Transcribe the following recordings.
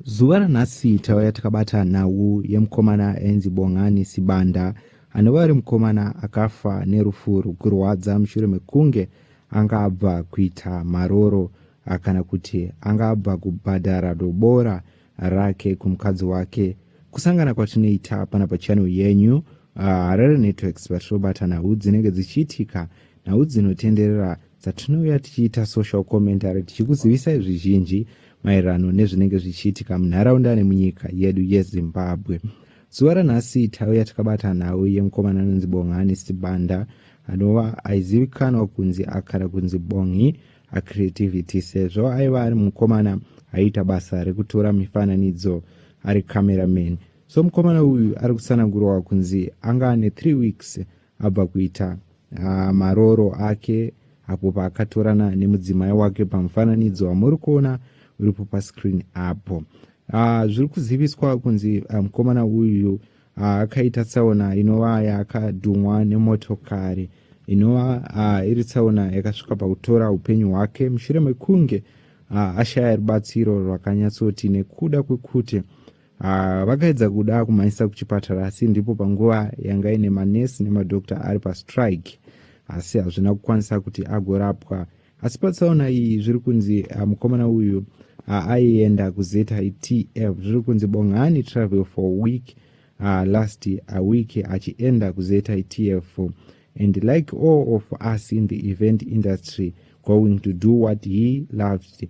Zuva ranhasi tauya takabata nhau yemukomana ainzi Bongani Sibanda anova ari mukomana akafa nerufu rwekurwadza mushure mekunge anga abva kuita maroro kana kuti anga abva kubhadhara dobora rake kumukadzi wake kusangana kwatinoita pana pachannel yenyu uh, harare networks patirobata nhau dzinenge dzichiitika nhau dzinotenderera dzatinouya tichiita social commentary tichikuzivisai zvizhinji maererano nezvinenge zvichiitika munharaunda nemunyika yedu yezimbabwe zuva ranhasi tauya takabata nhau yemukomana anonzi bongani sibanda anova aizivikanwa kunzi akara kunzi bongi acreativity sezvo aiva ari mukomana aiita basa rekutora mifananidzo ari cameraman so mukomana uyu ari kutsanangurwa kunzi anga ane 3 weeks abva kuita uh, marooro ake apo paakatorana nemudzimai wake pamufananidzo wamuri kuona uripo pascreen apo uh, zviri kuziviswa kunzi ah, mukomana um, uyu akaita uh, tsaona inova yakadhumwa nemotokari inova uh, iri tsaona yakasvika pakutora upenyu hwake mushure mekunge uh, ashaya rubatsiro rwakanyatsoti nekuda kwekuti Ah, vakaedza kuda kumaisa kuchipatara asi ndipo panguva yanga ine manesi nemadokta ari pastrike asi hazvina kukwanisa kuti agorapwa asi patsaona iyi zviri kunzi ah, mukomana uyu ah, aienda kuzitf zviri kunzi bongani travel for a week uh, last a week achienda kuzitf and like all of us in the event industry going to do what he loved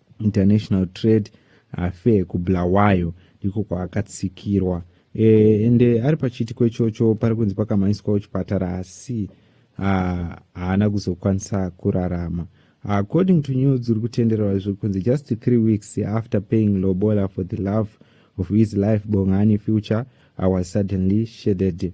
international trade affair kubulawayo ndiko kwaakatsikirwa e, ende ari pachiitiko ichocho pari kunzi pakamhanyiswawo chipatara asi haana kuzokwanisa kurarama according to news dziri kutenderwa izvo kunzi just three weeks after paying lobola for the love of his life bongani future i was suddenly shaded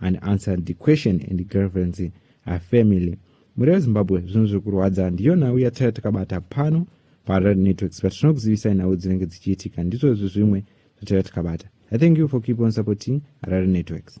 and answered the question and girlfriends a family muri vezimbabwe zvinhu zviri kurwadza ndiyo nhau yataiva takabata pano pared networks but tinokuzivisai nhau dzinenge dzichiitika ndizvozvi zvimwe zvataiva takabata i thank you for keep on supporting red networks